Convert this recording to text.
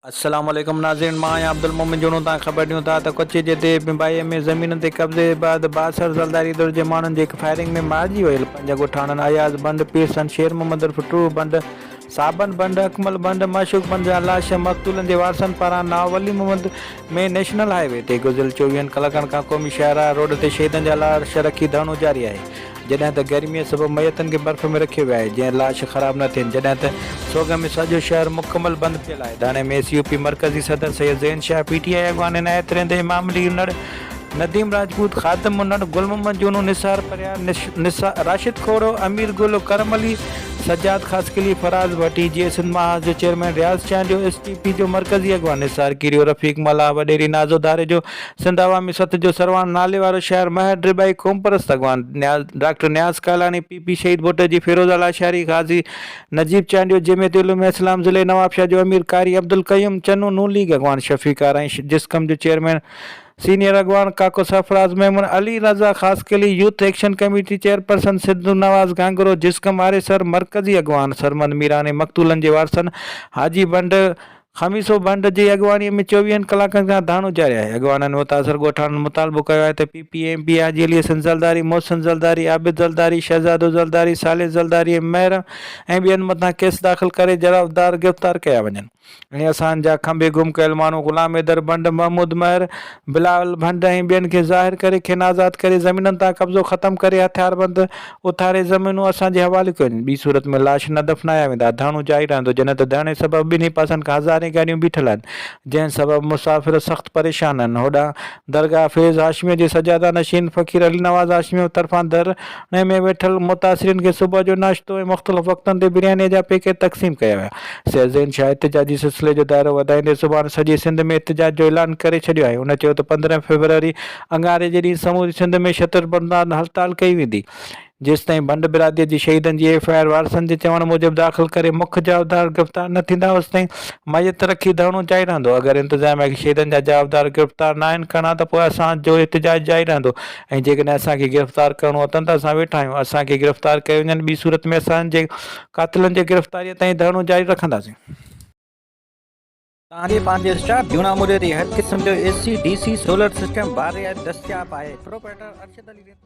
السلام عليڪم ناظرين مان آهيان عبدالمومن جوڻو تان خبر ڏيون ٿا ته ڪچي جي ديهه بنبائيء ۾ زمينن تي قبضي بعد بااثر زلداري ڌر جي ماڻهن جي هڪ فائرنگ ۾ مارجي ويل پنج ڳوٺاڻن اياز بنڊ، پيرسن، شير محمد عرف ٽوهه بنڊ، صابن بنڊ، اڪمل بنڊ، معشوق بنڊ جا لاش مقتولن جي وارثن پاران ناو Wali Muhammad ۾ national highway تي گذريل چوويهن ڪلاڪن کان قومي شاهراهه روڊ تي شهيدن جا لاش رکي ڌرڻو جاري آهي جڏهن ته گرميء سبب ميتن کي برف ۾ رکيو ويو آهي، جئين لاش خراب نه ٿين، جڏهن ته سوگهه ۾ سڄو شهر مڪمل بند پيل آهي. ڌرڻي ۾ ايس يو پي مرڪزي صدر Syed Zain Shah, P T I اڳواڻ عنايت رند، امام علي انڙ، نديم راجپوت، خادم انڙ، گل محمد جونو، نثار پرهيار، راشد کوڙو، امير گل، ڪرم علي، سجاد خاصخيلي، فراز ڀٽي، جيئي سنڌ محاذ جو chairman Riaz Chandio, S T P جو مرڪزي اڳواڻ نثار ڪيريو، رفيق ملاح، وڏيري نازو ڌاريجو، سنڌ عوامي سٿ جو سرواڻ ناليوارو شاعر مهر ڊريبائي، قومپرست اڳواڻ doctor Niaz Kalani, P P شهيد ڀٽ جي فيروز اعليٰ شاعري، غازي نجيب چانڊيو، جمعيت علوم اسلام ضلعي نوابشاهه جو امير قاري عبدالقيوم چنو، نون ليگ اڳواڻ شفيقار ۽ جسقم جو چيئرمين سينيئر اڳواڻ ڪاڪو Sarfraz Memon, Ali Raza Khaskheli, youth action committee chairperson Sindhu Nawaz Ghanghro, جسقم آريسر، مرڪزي اڳواڻ سرمد ميراڻي، مقتولن جي وارثن حاجي بنڊ، خميسو بنڊ جي اڳواڻي ۾ چوويهن ڪلاڪن کان ڌاڻو جاري آهي، اڳواڻن متاثر ڳوٺاڻن مطالبو ڪيو آهي ته P P M P Haji Ali Hassan Zaldari, Mohsin Zaldari, Abid Zaldari, Shahzado Zaldari, صالح زلداري ۽ مهر ۽ ٻين مٿان ڪيس داخل ڪري جرابدار گرفتار ڪيا وڃن ۽ اسان جا کنڀي گم ڪيل ماڻهو غلام حيدر بنڊ، محمود مهر، بلاول ڀنڊ ۽ ٻين کي ظاهر ڪري کين آزاد ڪري زمينن تان قبضو ختم ڪري هٿياربند اٿاري زمينون اسان جي حوالي ڪيون ٻي صورت ۾ لاش نه دفنايا ويندا ڌرڻو جاري رهندو جڏهن ته ڌرڻي سبب ٻنهي پاسن کان هزارين گاڏيون بيٺل آهن جنهن سبب مسافر سخت پريشان آهن هوڏانهن درگاهه فيض هاشميء جي سجاده نشين فقير علي نواز هاشميء طرفان در انهيء ۾ ويٺل متاثرين کي صبح جو ناشتو ۽ مختلف وقتن تي بريانيء جا پيڪيٽ تقسيم ڪيا ويا. سيد زين شاهه احتجاجي سلسلي جو دائرو وڌائيندي سڀاڻ سڄي سنڌ ۾ احتجاج جو اعلان ڪري ڇڏيو آهي. هن چيو ته پندرهن فيبروري اڱاري جي ڏينهن سموري سنڌ ۾ شٽر بندان هڙتال ڪئي ويندي، جيستائين ڀنڊ برادريء جي شهيدن جي ايف آء آر وارثن جي چوڻ موجب داخل ڪري مک جوابدار گرفتار نه ٿيندا اوستائين ميت رکي ڌرڻو جاري رهندو. اگر انتظاميا کي شهيدن جا جوابدار گرفتار نه آهن ڪرڻا ته پوء اسان جو احتجاج جاري رهندو ۽ جيڪڏهن اسان کي گرفتار ڪرڻو اٿن ته اسان ويٺا آهيون، اسان کي گرفتار ڪيو وڃن، ٻي صورت ۾ اسان جي قاتلن جي گرفتاريء تائين ڌرڻو جاري رکنداسين. توهان کي پنهنجي اسٽاف جونا موري تي هر قسم جو A C, D C, solar system بار رعايت دستياب آهي، پروپرائيٽر ارشد علي ريتو.